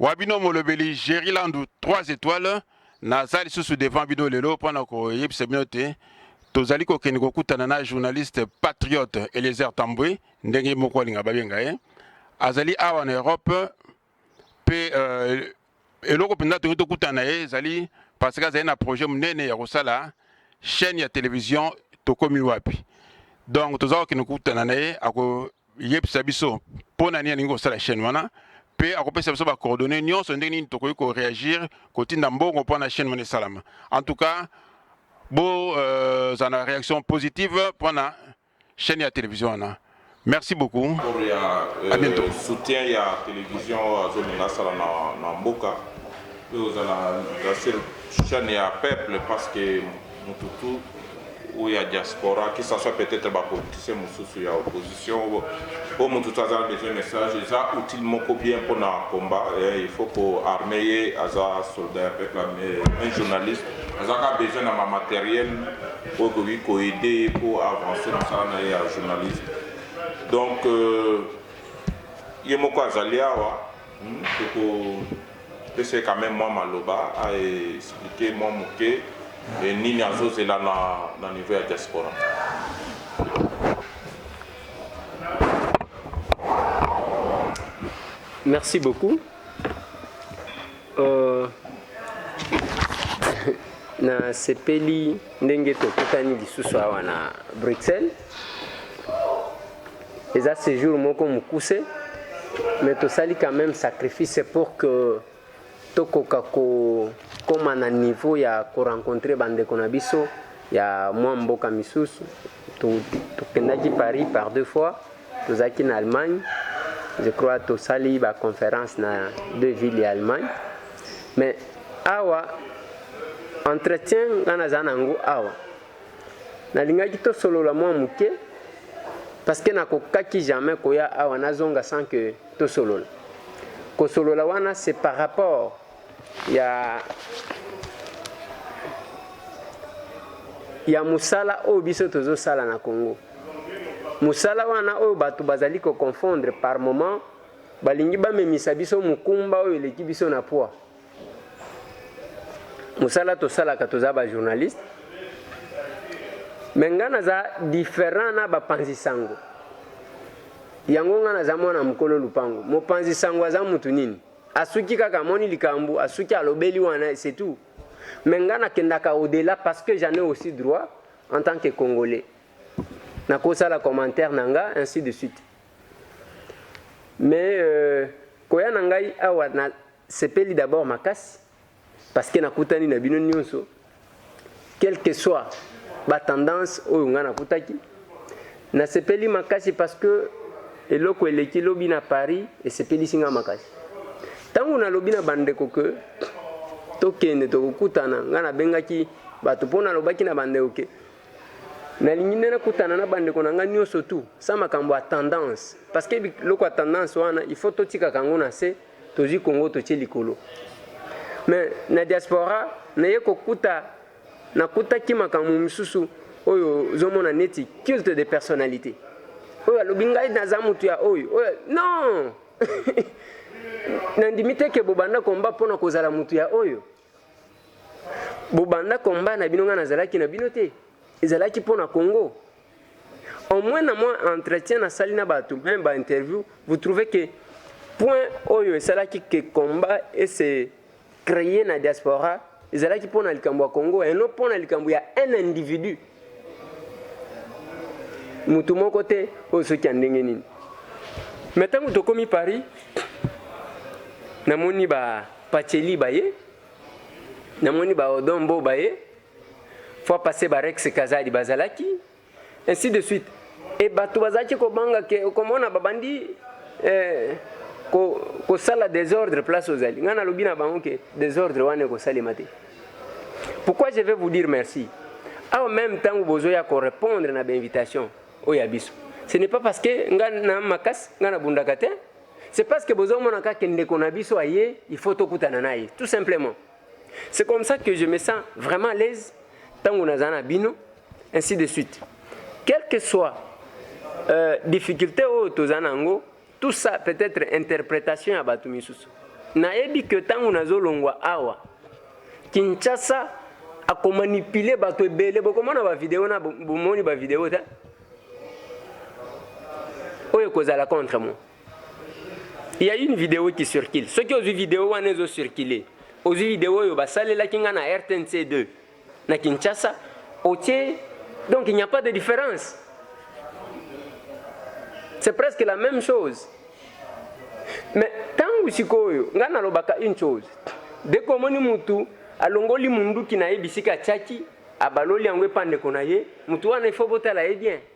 wa bino molobeli Jerry Landu 3 etoiles naza lisusu devant bino lelo mpo na koyebisa bino te tozali kokende kokutana na journaliste patriote Eliezer Tambwe ndenge moko alinga babenga ye azali awa na Europe mpe euh, eloko mpenza tokoki tokutana na ye ezali parce que azali na projet monene ya kosala chaîne ya télévision tokomi wapi donc toza kokende kokutana na ye ako yebisa biso mpo na nini alingi kosala chaîne wana mpe akopesa biso ba coordonnées nyonso ndenge nini tokoki ko réagir kotinda mbongo mpo na chaîne wana esalama en tout cas bo euh, za na réaction positive mpo na chaîne ya télévision wana merci beaucoup pour ya à bientôt. euh, soutien ya télévision azolinga asala na, na mboka mpe ozala na seul chaîne ya peuple parce que Mutu tout ou ya diaspora qui s'assoit peut etre ba politiciens mususu ya opposition po mutu tout aza besoin message eza outil moko bien pona combat il faut ko arme ye aza soldat ya peuple mais un journaliste aza ka besoin na ma materiel oyo ekoki ko aider ye po avancer mosala na ye ya journaliste donc euh, ye moko azali awa hmm, toko Pesa ye quand meme mwa maloba a expliquer mwa moke nini azo zela na niveau ya diaspora. Merci beaucoup euh, na sepeli ndenge tokutani lisusu awa na Bruxelles Eza sejour moko mukuse mais tosali quand meme sacrifice pour que tokoka kokoma na niveau ya ko rencontrer bandeko na biso ya mwa mboka misusu tokendaki paris par deux fois tozalaki na allemagne je crois tosali baconférence na deux villes ya allemagne mais awa entretien ngai naza na yango awa Nalingaki tosolola mwa moke parceque nakokaki jamais koya awa nazonga sans que tosolola. Kosolola wana c'est par rapport ya ya mosala oyo biso tozosala na Congo. Mosala wana oyo bato bazali ko confondre par moment balingi bamemisa biso mokumba oyo eleki biso na poids. musala tosalaka toza ba journaliste me ngai naza different na bapanzi sango yango ngai naza mwana mokolo lupango mopanzi sango aza mutu nini asuki kaka amoni likambo asuki alobeli wana c'est tout me ngai nakendaka au-delà parce que j'en ai aussi droit en tant que congolais nakosala commentaire na ngai ainsi de suite mais euh, koya na ngai awa na Sepeli d'abord makasi parce que nakutani na bino nionso quel que soit ba tendance oyo nga nakutaki. Nasepeli makasi parce que eloko eleki lobi na Paris esepelisi nga makasi. Tango nalobi na bandeko que tokende tokokutana nga nabengaki bato mpo nalobaki na bandeko ke nalingi nde nakutana na bandeko na ngai nyonso tu sa makambo ya tendance parce que biloko ya tendance wana il faut totikaka yango na se Tozui Congo totie likolo. Mais na diaspora naye kokuta nakutaki makambo mosusu oyo ozomona neti culte de personnalité. Oyo alobi ngai naza motu ya oyo. Oyo non. nandimi te ke bobanda komba mpona kozala motu ya oyo. bobanda combat na bino ngai nazalaki na bino te ezalaki mpo na congo au moins na mwa entretien nasali na bato meme bainterview vous trouvez que point oyo esalaki ke combat ese créer na diaspora ezalaki mpo na likambo ya congo et non mpo na likambo ya un individu moto moko te oyo soki ya ndenge nini me ntango tokomi paris namoni ba pacheli baye namoni ba odombo baye fois passé ba rex kazadi bazalaki ainsi de suite e bato bazalaki kobanga ke okomona babandi eh, kosala ko desordre place ozali ngai nalobi na bango ke desordre wana ekosalema te Pourquoi je vais vous dire merci? Awa même tango bozoya ko répondre na ba invitation oyo ya biso. Ce n'est pas parce que nga na makasi nga na bundaka te. C'est parce que bozo mona kaka ndeko na biso aye, il faut tokutana na ye tout simplement. C'est comme ça que je me sens vraiment à l'aise tango nazala na bino ainsi de suite. Quel que soit euh, difficulté oyo tozala nango Tout ça peut être interpretation ya batu misusu. Nayebi que tango nazolongwa awa Kinshasa akomanipule bato ebele bokomona bavideo na bomoni bavideo te oyo ekozala contre moi il y a une vidéo qui circule soki ozwi vidéo wana ezo circule ozwi vidéo oyo basalelaki ngai na rtnc 2 na Kinshasa otie donc il n'y a pas de différence c'est presque la même chose mais ntango sikoyo ngai nalobaka une chose deko omoni mutu alongoli munduki na ye bisika atiaki abaloli yango epa ndeko na ye mutu wana ifo botala ye bien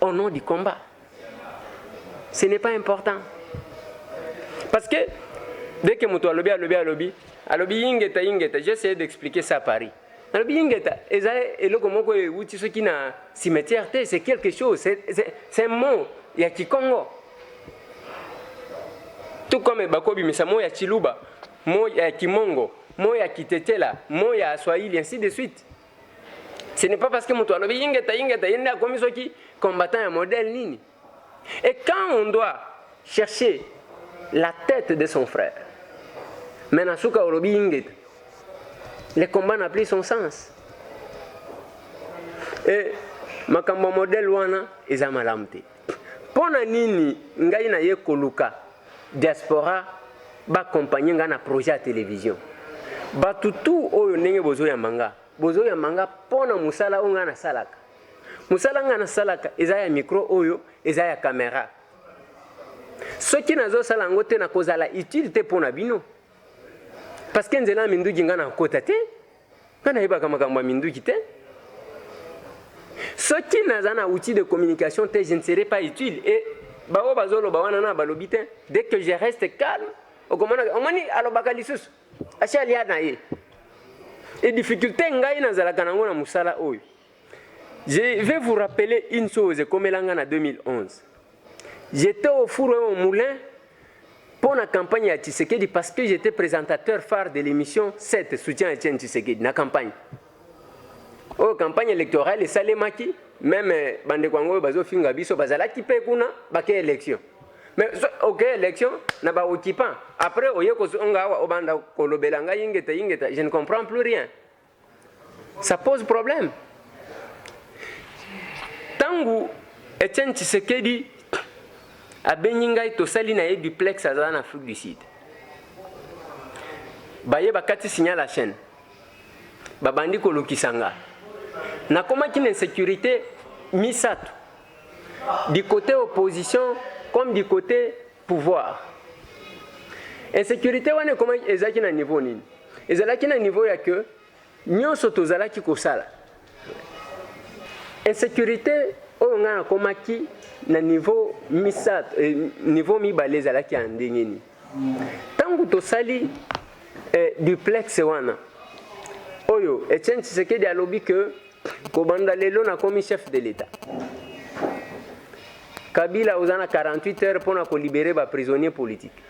au nom du combat ce n'est pas important parce que dès que moto alobi alobi alobi alobi ingeta ingeta j'ai essayé d'expliquer ça à Paris nalobi ingeta eza eloko moko euti soki na cimetière te c'est quelque chose c'est un mot ya kikongo tout comme bakobimisa mot ya chiluba mot ya kimongo mot ya kitetela mot ya swahili ainsi de suite Ce n'est pas parce que moto alobi ingeta ingeta ye nde akomi soki combattant ya modèle nini. Et quand on doit chercher la tête de son frère, mais na suka olobi ingeta, le combat n'a plus son sens. Et makambo ya modèle wana eza malamu te. Pona nini ngai na ye koluka diaspora ba compagne nga na projet ya television? Batu tout oyo ndenge bozo yamba nga, bozo yamba nga pona musala oyo nga na salaka. Musala nga na salaka eza ya micro oyo, eza ya camera. Soki nazo sala yango te, nako zala utile te pona bino. Parce que nzela ya minduki nga nako kota te. Nga nayebaka makambo ya minduki te. Soki naza na outil de communication te, je ne serai pas utile et baoyo bazoloba wana na balobi te. Dès que je reste calme, okomona omoni alobaka lisusu. Asi alia na ye. Et difficulté ngai nazalaka nango na musala oyo. Je vais vous rappeler une chose ekomela nga na 2011. J'étais au four et au moulin pour la campagne à Tshisekedi parce que j'étais présentateur phare de l'émission 7 soutien à Etienne Tshisekedi na campagne. Oh campagne électorale et salemaki même euh, bande kwango bazo finga biso bazalaki pe kuna bake élection. Mais OK élection na ba occupant. Après oye kozonga awa obanda kolobela nga ingeta ingeta je ne comprends plus rien. Ça pose problème. Tangu Etienne Tshisekedi abengi ngai tosali na ye duplex azala na Afrique du Sud. Baye bakati signal la chaîne. Babandi kolukisa nga. Nakomaki na insécurité misato. Du côté opposition comme du côté Pouvoir. Insecurite wana ekomaki ezalaki na niveau nini? Ezalaki na niveau ya que nyonso tozalaki kosala. Insecurite oyo ngai nakomaki na niveau misato, eh, niveau mibale ezalaki ya ndenge nini? Ntango tosali eh, duplex wana oyo Etienne Tshisekedi alobi que Kobanda lelo nakomi chef de l'Etat. Kabila oza na 48 heures pona ko libérer ba prisonniers politiques.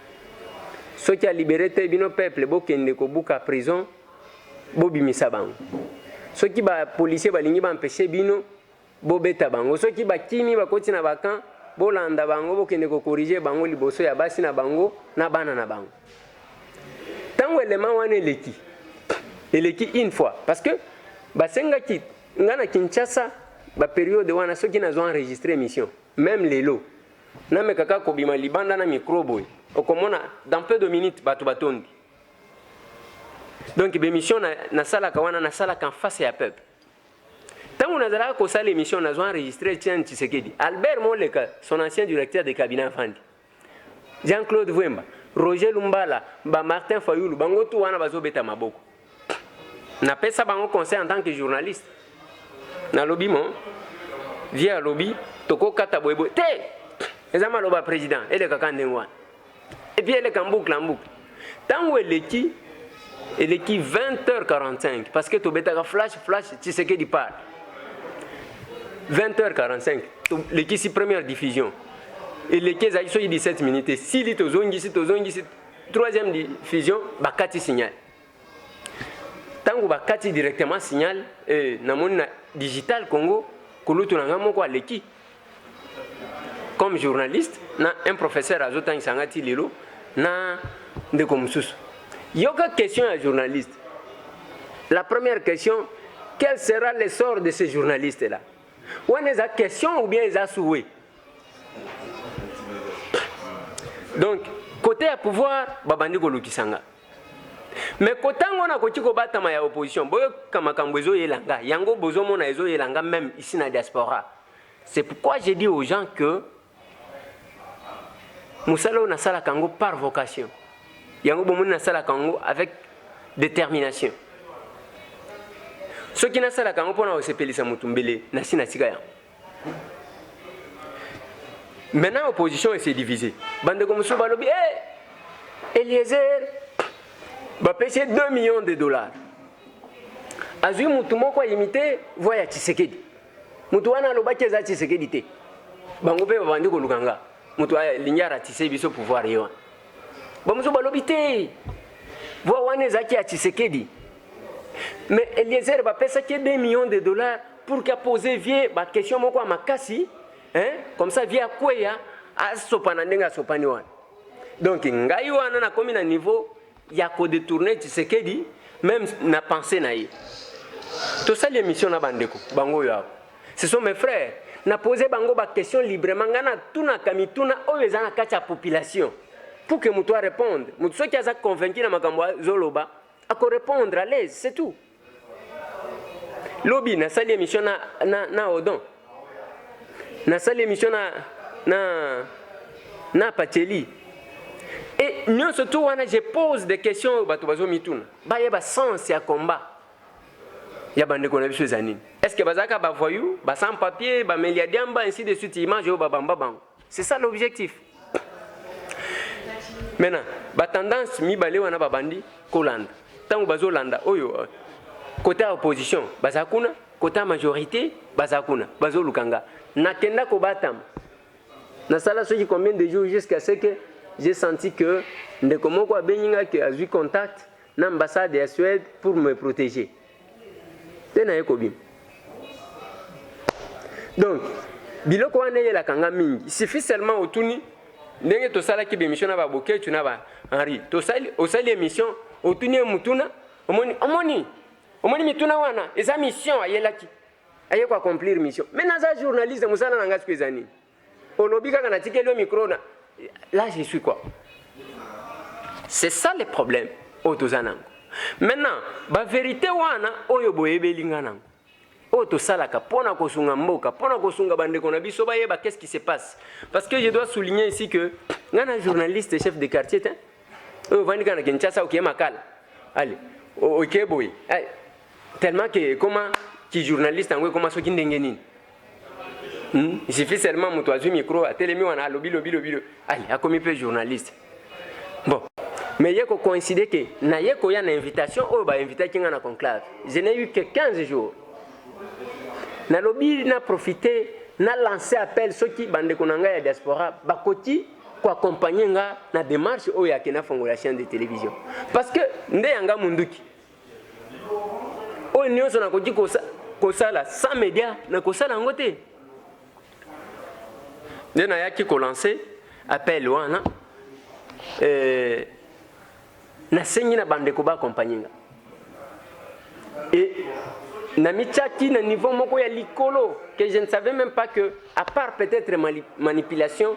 Soki a libérer te bino peuple bokende kobuka prison bobimisa bango. Soki ba policiers balingi ba empêcher bino bobeta bango. Soki bakimi bakoti na ba camps bolanda bango bokende ko corriger bango liboso ya basi na bango na bana na bango. ntango elema wana eleki eleki une fois parce que basengaki ngai na kinshasa baperiode wana soki nazwa enregistre émission meme lelo nameka kaka kobima libanda na micro boye okomona dans peu de minutes bato batondi donc bémission nasalaka na wana nasalaka en face ya peuple ntango nazalaka kosala émission nazwa enregistre tian tshisekedi albert moleka son ancien directeur de cabinet afandi Jean Claude Vwemba, Roger Lumbala, ba Martin Fayulu, bango tout wana bazo beta maboko. Na pesa bango conseil en tant que journaliste. Na lobi mo vieux alobi toko kata boye boye te. Eza maloba président eleka ka ndenge wana. Et puis eleka mbukla mbukla. Tango eleki eleki 20h45 parce que tobetaka flash flash Tshisekedi part 20h45 tolekisi première diffusion eleki ezalaki soki 17 minutes esili tozongisi tozongisi troisième diffusion bakati signal ntango bakati directement signal eh, namoni na digital congo kulutu na ngai moko aleki comme journaliste na un professeur azotangisa ngai ti lelo na ndeko mosusu yoka question ya journaliste la première question quel sera le sort de ce journaliste là wana eza question ou bien eza souhait donc kote ya pouvoir babandi kolukisa nga me kotango na koki kobatama ya opposition boyoka makambo ezoyela nga yango bozomona ezoyela nga meme isi na diaspora C'est pourquoi j'ai dit aux gens que musala oyo nasalaka yango par vocation yango bomoni nasalaka yango avec détermination soki nasalaka yango mpona kosepelisa motu mbele nasi natika yango maintenant opposition ese divise bandeko mosusu balobi e eh, hey, eliezer bapesi 2 millions de dollars azwi motu moko ayimite voi ya tshisekedi Mutu wana alobaki eza Tshisekedi te. Bango pe babandi koluka nga. Mutu alingi aratise biso pouvoir ye wana. Bamusu balobi te. Voix wana ezalaki ya Tshisekedi. Mais Eliezer bapesaki 2 millions de dollars pour que poser vieux ba question moko ya makasi, hein? Comme ça vieux akweya asopana ndenge asopani wana. Donc ngai wana nakomi na niveau ya ko detourner Tshisekedi meme na pensee na ye. Tosali emission na bandeko bango oyo awa, ce sont mes frères, na pose bango ba question librement, ngai natunaka mituna oyo eza na kati ya population pour que moto a répondre, moto soki aza convaincu na makambo azoloba ako répondre à l'aise, c'est tout. lobi nasali emission na, na, na odon nasali emission na, na, na pacheli e nyonso tu wana je pose des questions oyo bato bazomituna bayeba sens ya combat ya bandeko na biso eza nini est ce que bazalaka bavoyou basan papier bameli ya diamba ainsi de suite image oyo babamba bango C'est ça l'objectif. Maintenant, ba tendance mibale wana babandi kolanda. Tango bazolanda oyo euh, côté ya opposition baza kuna, côté ya majorité baza kuna, bazoluka nga. Nakenda kobatama. Nasala soki combien de jours jusqu'à ce que j'ai senti que ndeko moko abengi nga que azui contact na ambassade ya Suède pour me protéger. nde naye kobima donc biloko wana eyelaka nga mingi suffit seulement otuni ndenge tosalaki bemission na baboketu na ba henri tosali osali emission otuni ye motuna omoni omoni omoni mituna wana eza mission ayelaki aye koaccomplir mission me naza journaliste mosala na ngai siko eza nini Olobi kaka natikeli yo micro na là je suis quoi? C'est ça le problème oyo toza nango. Maintenant ba verite wana oyo boyebeli nga nango oyo tosalaka mpo na kosunga mboka mpo na kosunga bandeko na biso bayeba qu'est-ce qui se passe parce que je dois souligner ici que nga na journaliste chef de quartier te oyo ovandi kaka na kinshasa okie makala ale okie boye tellement que ekoma kijournaliste yango ekoma soki ndenge nini Hmm? Il suffit seulement moto azwi micro atelemi wana alobi lobi lobi lobi. Allez, akomi mpe journaliste. Bon. Mais ye ko coïncider que na ye koya na invitation oyo ba invitaki nga na conclave. Je n'ai eu que 15 jours. Nalobi na profiter na lancer appel soki bandeko na ngai ya diaspora bakoki koaccompagne nga na démarche oyo yake nafongola chaîne de télévision parce que nde yanga monduki oyo nyonso nakoki kosala sans media nakosala yango te nde nayaki kolanse appel wana eh, nasengi na bandeko baakompagne nga e namityaki na niveau moko ya likolo que je ne savais même pas que à part peut-être manipulation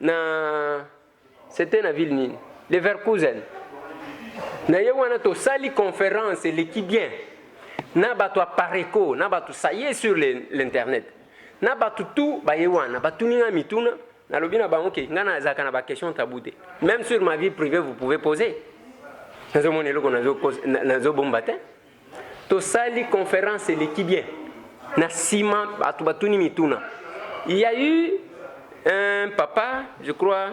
Na c'etait na ville nini? Leverkusen. Na ye wana tosali conference eleki bien na bato ya Pareco na bato ça y est sur l'internet na bato tout baye wana batuni ngai mituna nalobi na bango ke ngai nazalaka na baquestion tabou te même sur ma vie privée vous pouvez poser nazomona eloko nazobomba te tosali conference eleki bien na sima bato batuni mituna il y a eu un papa je crois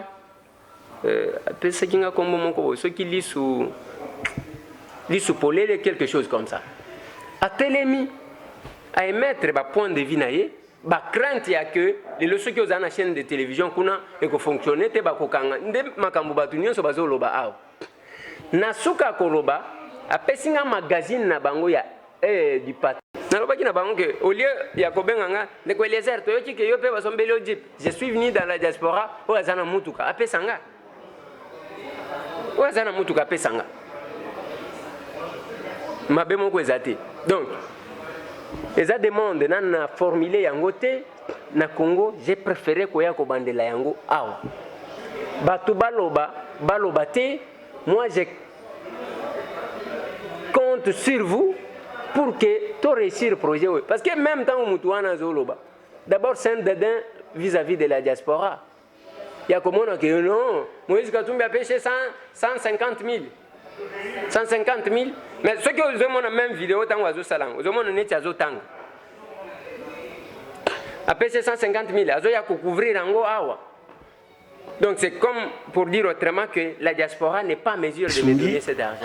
euh, apesaki nga kombo moko boye soki lisu lisu polele quelque chose comme ça atelemi à émettre ba point de vie na ye ba crainte ya que lelo soki ozala na chaîne de télévision kuna ekofonctionne te bakokanga nde makambo bato nyonso bazoloba awa Na suka ya koloba, apesi ngai magazini na bango ya Heure du Patron. Nalobaki na bango que au lieu ya kobenga ngai, Ndeko Eliezer, toyoki que yo mpe basombeli yo Jeep. Je suis venu dans la diaspora, oyo aza na mutuka apesa ngai. Oyo aza na mutuka apesa ngai. Mabe moko eza te. Donc, eza demande nanu na formuler yango te. Na Congo j'ai prefere koya kobandela yango awa. Batu baloba baloba te moi je compte sur vous pour que to réussir projet oyo parce que même tango mutu wana azoloba d'abord c'est un dedin vis-à-vis de la diaspora ya komona ke non Moïse Katumbi apeshe 150 000 150 000 mais soki ozomona même video ntango azosala yango ozomona neti azotanga apeshe 150 000 azoya kocouvrir yango awa Donc c'est comme pour dire autrement que la diaspora n'est pas en mesure de me donner cet argent.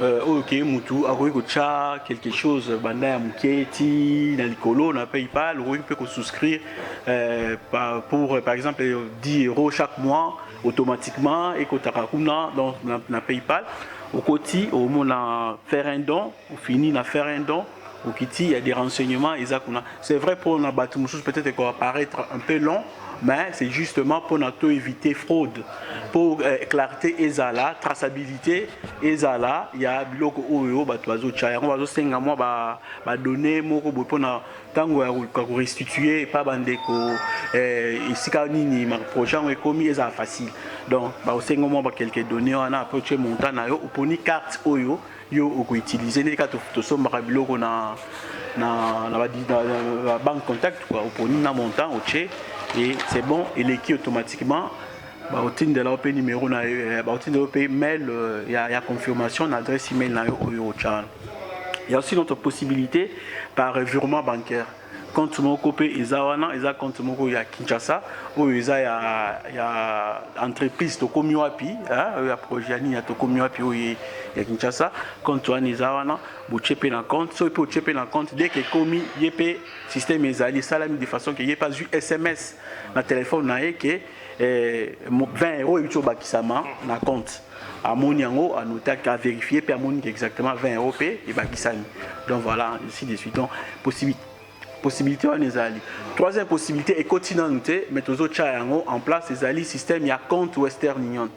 euh, oyo ke mutu akoki kotya quelque chose banda ya moke ti na likolo na paypal okoki mpe kosouscrire euh, pour par exemple 10 euros chaque mois automatiquement ekotaka kuna donc na, na paypal okoti omona faire un don ofini na faire un don Bokiti ya des renseignements eza kuna. C'est vrai pour na batu mususu peut-être ko apparaître un peu long mais c'est justement pour na to éviter fraude pour euh, clarté ezala traçabilité ezala ya biloko oyo bato bazotia yango bazosenga mwa badonne moko boye mpona ntango ya koluka korestitue epa bandeko eh, esika nini projet yango ekomi ezala facile donc baosenga mwa bakelke donne wana apres otie montant na yo oponi carte oyo yo oko utiliser ndenge kaka tosombaka biloko na na na banque contact quoi oponi na montant otie et c'est bon eleki automatiquement baotindela yo mpe numero na yo eh, baotindela yo mpe mail euh, ya, ya confirmation na adresse email na yo oyo otyana ya aussi notre possibilité par virement bancaire Compte moko pe eza wana, eza compte moko ya Kinshasa, oyo eza ya, ya entreprise tokomi wapi hein, oyo ya projet ya nini ya tokomi wapi oyo ya Kinshasa. Compte wana eza wana, botie pe na compte, soki pe otie pe na compte dès que ekomi ye pe système ezali esalami de façon que ye pe azwi SMS na telephone na ye que eh, 20 euros euti obakisama na compte amoni yango anotaki averifie mpe amoni ke exactement 20 euros mpe ebakisami donc voilà ainsi de suite donc possibilité possibilité wana ezali troisième possibilité ekoti nanu te mais tozotya yango en place ezali système ya compte western union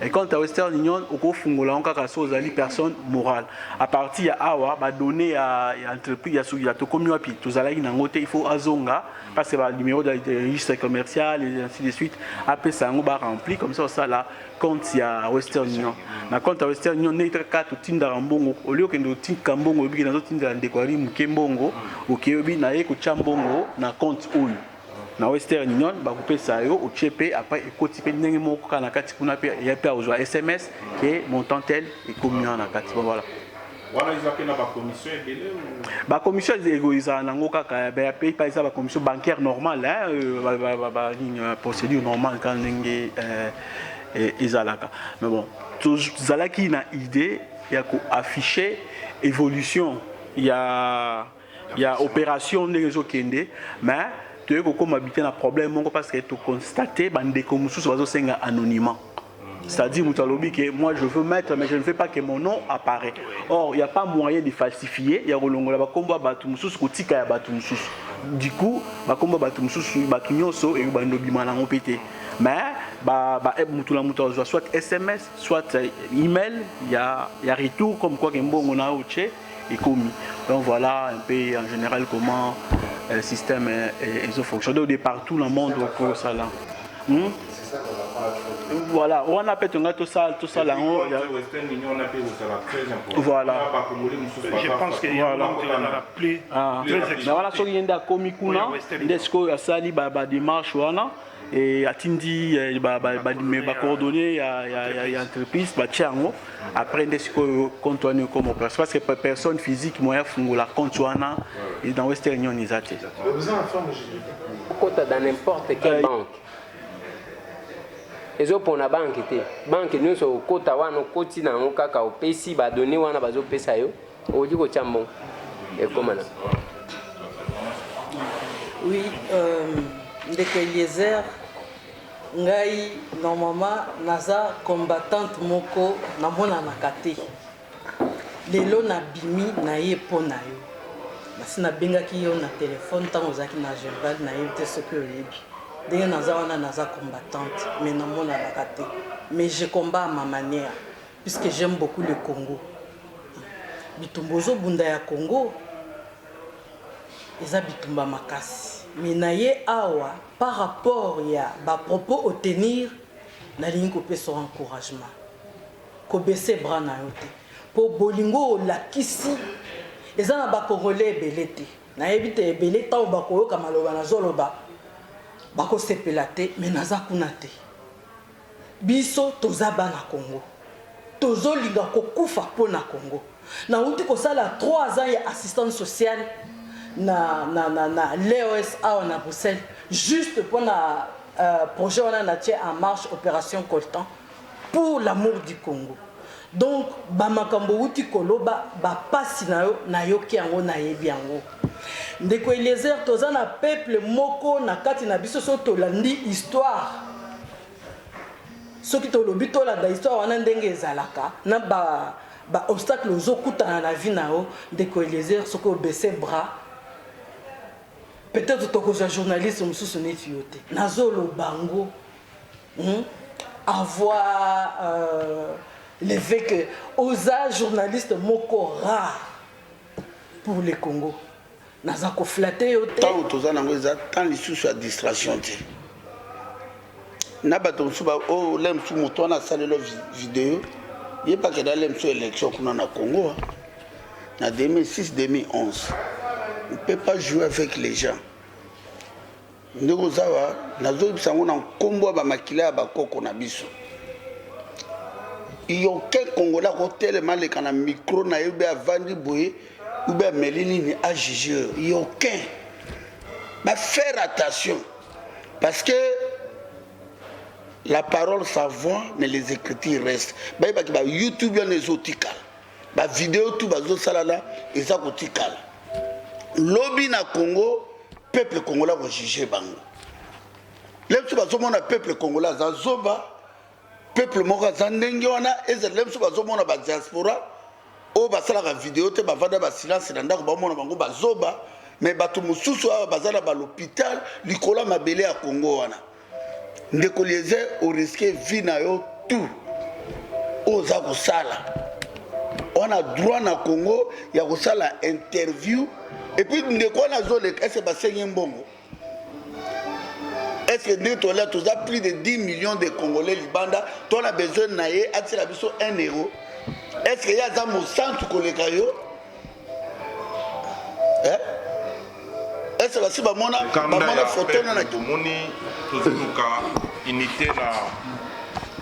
Et quant à Western Union, okofungola yango kaka so ozali personne morale. À partir ya awa ba données ya, ya entreprise ya Sugila tokomi wapi tozalaki nango te, il faut azonga parce que ba numéro de registre commercial et ainsi de suite apesa yango ba rempli comme ça osala compte ya Western Union. Na compte ya Western Union ndenge kaka totindaka mbongo, au lieu okende otika mbongo oyebi ke nazotindela ndeko ya muke mbongo, okeyobi na ye kotya mbongo na compte oyo na western union bakopesa yo otie pe après ekoti pe ndenge moko kaka na kati kuna pe ya pe akozwa sms ke montant tel ekomi wana na kati bon voilà wana eza pe na ba commission ebele ba commission ezala nango kaka ya pe pa eza ba commission bancaire normale hein euh, ba nini euh, procédure normale kaka ndenge euh, e, ezalaka mais bon tozalaki na idée ya ko afficher évolution ya ya operation ndenge ezo kende mais toye kokoma bite na problème moko parce que to constate ba ndeko mususu bazo senga anonymat c'est-à-dire mutu alobi que moi je veux mettre mais je ne veux pas que mon nom apparaît or il y a pas moyen de falsifier ya kolongola ba kombo ya batu mususu kotika ya batu mususu du coup ba kombo ya batu mususu batu nyonso et ba ndobima nango pe te mais ba ba eh, mutu na mutu azwa soit SMS soit euh, email ya ya retour comme quoi que mbongo na oche ekomi donc voilà un peu en général comment euh, le système ezo fonctionne donc de partout na monde okosala hmm? voilà wana mpe tonga tosala tosala yango voilà je pense que voilà ah. mais wana soki ye nde akomi kuna nde sikoyo asali ba démarche wana et atindi euh, ba ba ba ba coordonnées ya ya ya entreprise ba tiango après nde sikoyo compte wana comme opération parce que personne physique moyen la compte wana et dans Western Union ils étaient kota dans n'importe quelle euh, banque ezopona banke te banke nyonso okota wana okoti na yango kaka opesi badone wana bazopesa yo Okoki kotya mbongo ekoma na. Oui, euh, ndeko Eliezer, ngai normalement naza combattante moko namonanaka te. Lelo nabimi na ye mpo na yo. Nasi nabengaki yo na telefone ntango ozalaki na Genval, nayebi te soki oyebi ndenge naza wana, naza combattante mais namonanaka te mais je combat à ma manière. Puisque j'aime beaucoup le Congo. Bitumba ozo bunda ya Congo eza bitumba makasi. Mais na ye awa par rapport ya ba propos au tenir nalingi kopesa yo encouragement. Kobese bras na yo te. Po bolingo olakisi eza na ba Congolais ebele te. Nayebi te ebele tango bakoyoka maloba nazoloba bakosepela te mais naza kuna te. Biso toza bana Congo tozo linga ko kufa po na Congo na wuti ko sala trois ans ya assistante sociale na na na na l'EOS awa na Bruxelles juste po na projet wana na tie en marche operation coltan pour l'amour du Congo Donc ba makambo owuti koloba ba pasi na yo nayoki yango nayebi yango ndeko eliezer toza na peuple moko na kati na biso soki tolandi histoire soki tolobi tolanda histoire wana ndenge ezalaka na ba ba obstacle ozokutana na vie na yo ndeko eliezer soki obese bras peut-être tokozwa journaliste mosusu neti yo te nazoloba ngo Hum avoir euh, le fait que oza journaliste moko rare pour le Congo naza koflate yo te ntango toza nango eza ntan lisusu ya distraction te na bato mosusu oyo oh, le mosusu moto wana asalelo video ye mpe akenda le mosusu élection kuna na congo ah. na 2006 2011 on peut pas jouer avec les gens Ndeko Zava, nazoyebisa yango na nkombo ya ba makila ya ba koko na biso. Il y aucun Congolais akotelema aleka na micro na ye ou bien avandi boye ou bien ameli nini a juger. Il y aucun. Ba faire attention parce que la parole s'envoie mais les écritures restent. Bayebaki ba YouTube wana ezotikala. Ba video tout bazo sala na eza kotikala. Lobi na Congo peuple congolais ko juger bango. Lelo biso bazomona peuple congolais aza zoba, peuple moko aza ndenge wana, ezala lelo biso bazomona ba diaspora oyo basalaka video te bavanda ba silence na ndako bamona bango bazoba, mais bato mosusu awa baza na ba l'hôpital likolo ya mabele ya Congo wana. Ndeko Eliezer, o risque vie na yo tout oza kosala wana droit na Congo ya kosala interview et puis ndeko wana azoleka ese basengi mbongo est-ce que ndenge tolia toza plus de 10 millions de congolais libanda to na besoin na ye atisela biso 1 euro est-ce que ye aza mosantu koleka yo eh? ese basi bamona bamona foto na tomoni tozoluka unité na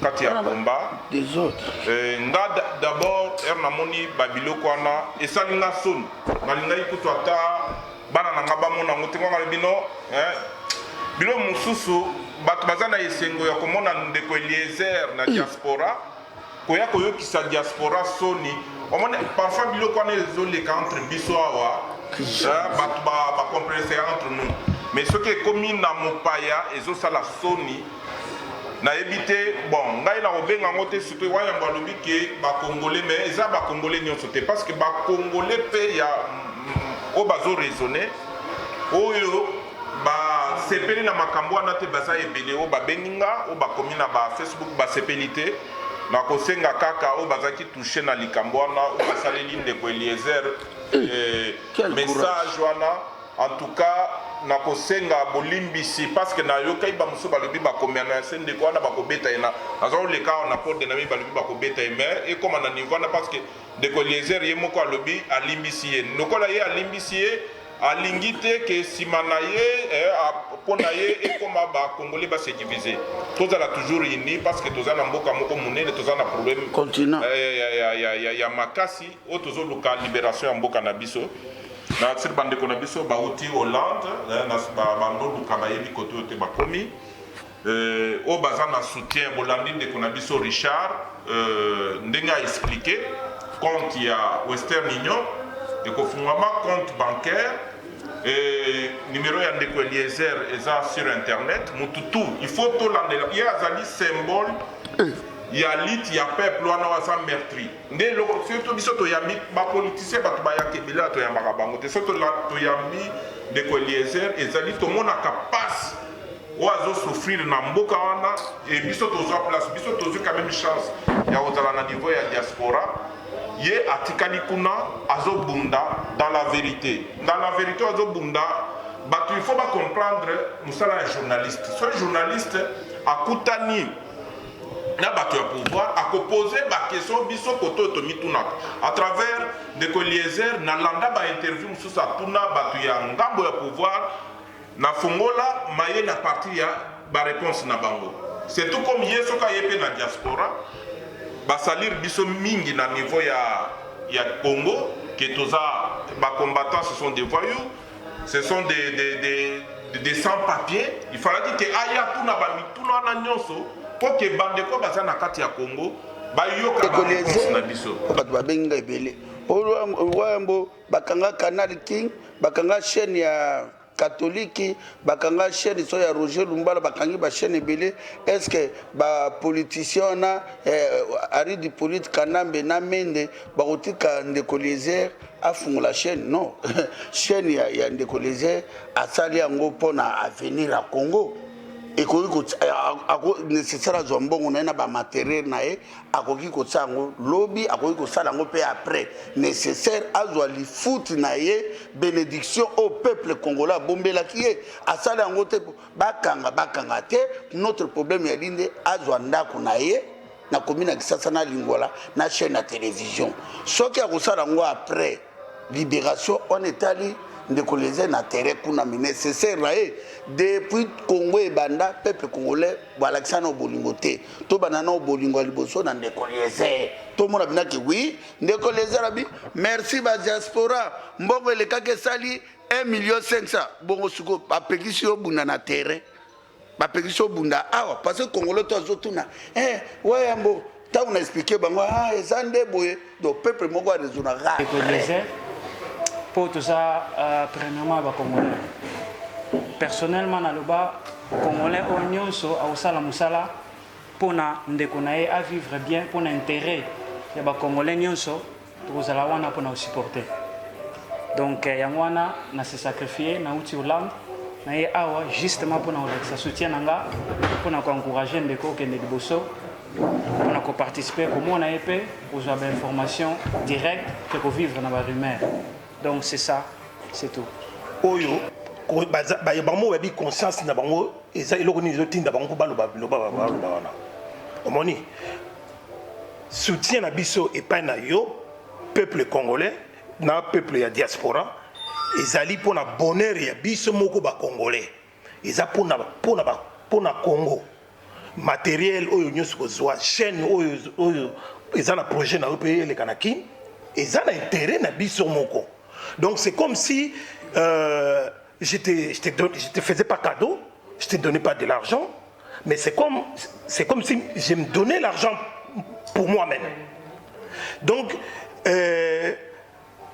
kati ya combat eh, nga d'abord ere namoni babiloko wana esali nga soni nalingaki kutu ata bana na nga bamona yango te nganga bino eh, bino mosusu bato baza na esengo ya komona ndeko eliezer na diaspora mm. koya koyokisa diaspora soni omoni parfois biloko wana ezoleka entre biso awa euh, bato bacompreneseka entre nous mais soki ekomi na mopaya ezosala soni nayebi te bon ngai nakobenga yango te sikoy wa yambo alobi ke bacongolais mais eza bacongolais nyonso te parce que bacongolais mpe ya oyo bazoraisonne oyo Ba sepeli na makambo wana te baza ebele oyo ba bengi nga oyo ba komi na ba Facebook ba sepeli te na ko senga kaka oyo baza ki touche na likambo wana oyo ba saleli ndeko Eliezer eh, eh message wana en tout cas na ko senga bolimbisi parce que na yokai ba musu balobi ba komia na se ndeko wana ba ko beta ena aza ko leka na porte na mi balobi ba ko beta mais et comme na niveau na parce que ndeko Eliezer ye moko alobi alimbisi ye lokola ye alimbisi ye Alingi te que sima na ye eh, a- mpo na ye ekoma ba congolais ba se diviser. Tozala toujours unis parce que toza na mboka moko monene, toza na problème Continent. eh, ya, ya, ya, ya, ya, ya makasi oyo tozoluka liberation ya mboka na biso na sur bandeko na biso bauti hollande eh, na ba- bandoluka bayebi kote oyo te bakomi Euh, oyo baza na soutien bolandi ndeko na biso richard euh, ndenge a explike compte ya western union ekofungwama compte bancaire euh, numero ya ndeko eliezer eza sur internet mutu tu il faut tolandela ye azali symbole eh. ya lite ya peuple wana waza mertri nde eloko surtout biso toyambi bapolitisien bato bayaka ebele ya toyambaka bango te so toyambi ndeko eliezer ezali tomonaka mpasi oyo azo souffrir na mboka wana e biso tozwa place biso tozwi quand même chance ya kozala na niveau ya diaspora ye atikali kuna azobunda dans la verite dans la verite azobunda bato il faut bacomprendre mosala ya journaliste soki journaliste akutani na bato ya pouvoir akopose bakestion biso kote oyo tomitunaka à travers ndeko eliezer nalanda bainterview mosusu atuna bato ya ngambo ya pouvoir Na fongola maye na partie ya ba reponse na bango c'est tout comme ye soki aye pe na diaspora ba salir biso mingi na niveau ya ya Congo que toza ba combattants ce sont des voyous ce sont des des des des sans papiers il falaki que aya atuna ba mituna wana nionso po que bandeko baza na kati ya Congo bayoka ba reponse na biso. bato babengi nga ebele oyo yambo Bakanga canal king, bakanga chaine ya catholique, bakanga chaine so ya Roger Lumbala, bakangi ba chaine ebele. Est ce que ba politiciens wana eh, Ari du Polite, Kanambe na Mende bakotika ndeko Eliezer afungola chaine? Non. chaine ya, ya ndeko Eliezer asali yango mpo na avenir ya Congo. ekoki nécessaire azwa mbongo na ye na bamateriele na ye akoki kotia yango lobi akoki kosala yango mpe après nécessaire azwa lifuti na ye bénédiction oyo peuple congolais abombelaki ye asala yango te bakanga bakanga te notre problème ya linde azwa ndako na ye na komi na kisasa na lingwala na chaîne ya télévision soki akosala yango après Liberation wana etali ndeko leze na terrain kuna mais necessaire na ye depuis congo ebanda peuple congolais balakisa nao bolingo te tobanda nao bolingo ya liboso na ndeko leze tomona binaki wi ndeko leze na bi merci ba diaspora mbongo elekaki esali 1 million 500 bongo siko bapekisi yo bunda na terrain bapekisi obunda awa parce que congolais to azotuna eh, wayambo ntango na explike bango ah, eza nde boye do peuple moko arezonaka mpo toza euh, premièrement bacongolais personnellement naloba congolais oyo nyonso akosala mosala mpo na ndeko na ye avivre bien mpo na intérêt ya bacongolais nyonso Tokozala wana pona ko supporter. Donc eh, yango wana na se sacrifier na uti Hollande na ye awa justement pona kolakisa soutien na nga pona ko encourager ndeko okende liboso pona ko participer komona ye pe kozwa ba information direct ke ko vivre na ba rumeur. Donc c'est ça, c'est tout. Oyo bango bayebi conscience na bango eza eloko nini ezotinda bango mpo baloba biloba baloba wana omoni Soutien na biso epai na yo peuple congolais na peuple ya diaspora ezali mpo na bonheur ya biso moko ba congolais eza mpo na mpo na mpo na Congo materiel oyo nyonso kozwa chaîne oyo oyo eza na projet na yo mpe eleka na kin eza na intérêt na biso moko donc c'est comme si euh, je te, je te, donne, je te faisais pas cadeau je te donnais pas de l'argent Mais c'est comme, c'est comme si je me donnais l'argent pour moi-même. Donc, euh,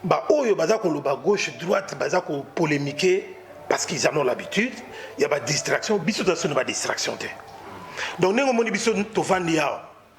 bah, oyo baza koloba gauche droite baza ko polémiquer parce qu'ils en ont l'habitude il y a ba distraction biso toza soni ba distraction te donc ndenge omoni biso tovandi awa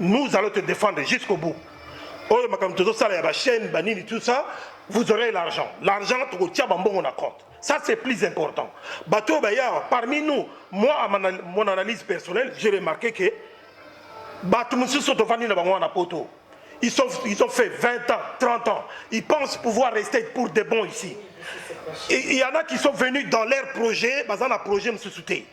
nous allons te défendre jusqu'au bout oyo makambo tozosala ya bachaîne banini tout ça vous aurez l'argent l'argent tokotia bambongo na compte ça c'est plus important bato oyo bayawa parmi nous moi à mon analyse personnelle j'ai remarqué que bato mosusu tofandi na bango wana poto ils, sont, ils ont fait 20 ans 30 ans ils pensent pouvoir rester pour de bon ici il y en a qui sont venus dans leur projet baza na projet mosusu te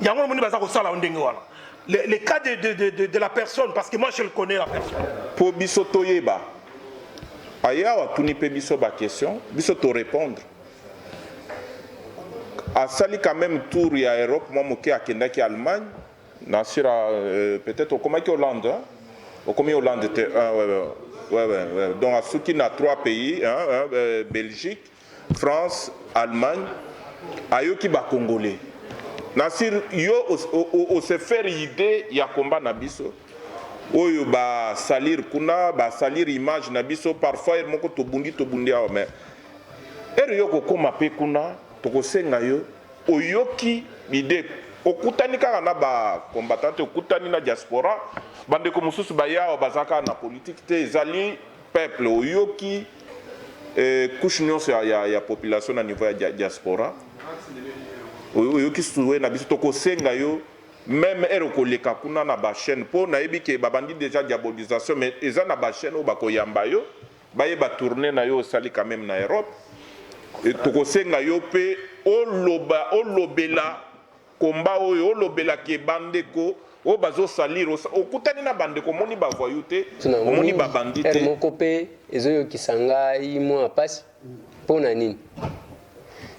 yango omoni baza kosala yo ndenge wana le, le cas de, de, de, de, de la personne parce que moi je le connais la personne mpo biso toyeba aye awa atuni mpe biso baquestion biso torépondre asali quand même tour ya europe mwa moke akendaki allemagne na sur euh, peut-être okomaki hollande hein? okomi hollande te ah, ouais, ouais, ouais, ouais, ouais. donc asuki na trois pays hein, hein, euh, belgique France Allemagne ayoki ba congolais na sur yo o se faire idee ya combat na biso oyo ba salir kuna ba salir image na biso parfois heure moko tobundi tobundi awa mais heure yo kokoma pe kuna tokosenga yo oyoki idee okutani kaka na ba combattant te okutani na diaspora bandeko mosusu baye awa baza kaka na politique te ezali Peuple oyoki eh, couche nionso ya, ya, ya population na niveau ya diaspora oyoki souhait na biso, tokosenga yo meme ere okoleka kuna na ba chaîne mpo nayebi ke babandi deja diabolisation mais eza na ba chaîne oyo bakoyamba yo bayeba tourne na yo osali quand meme na Europe tokosenga yo mpe oloba olobela Combat oyo olobela que ba ndeko oyo bazo salir okutani na ba ndeko omoni ba voyou te omoni ba bandit te. Moko pe ezo yokisa ngai mua pasi pona nini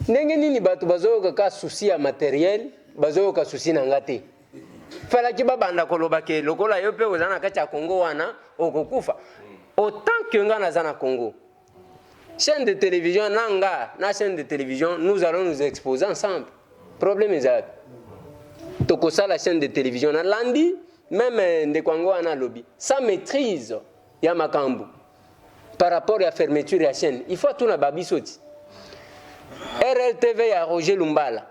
ndenge nini batu bazo yoka ka souci ya materiel bazo yoka souci na nga te falaki ba banda koloba ke lokola yo pe oza na kati ya Congo wana okokufa autant que nga naza na Congo chaîne de télévision nanga na chaîne de télévision nous allons nous exposer ensemble problème eza tokosala chaîne de télévision na landi même eh, ndeko yango wana alobi sa maîtrise ya makambo par rapport ya fermeture ya chaîne il faut atuna babiso ti rltv ya roger lumbala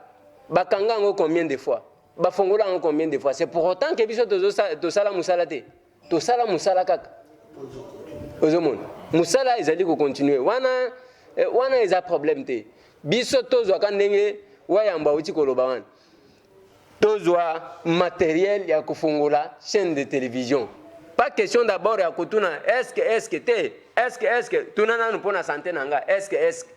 bakanga yango combien de fois bafongola yango combien de fois c'est pour autant ke biso tosala mosala te tosala mosala kaka ozomona mosala ezali kocontinue wana eh, wana eza problème te biso tozwaka ndenge wayambo awuti koloba wana tozwa materiel ya kofongola chaîne de télévision pas question d'abord ya kotuna eske eske te eske eske tuna nanu mpo na sante na nga eske eske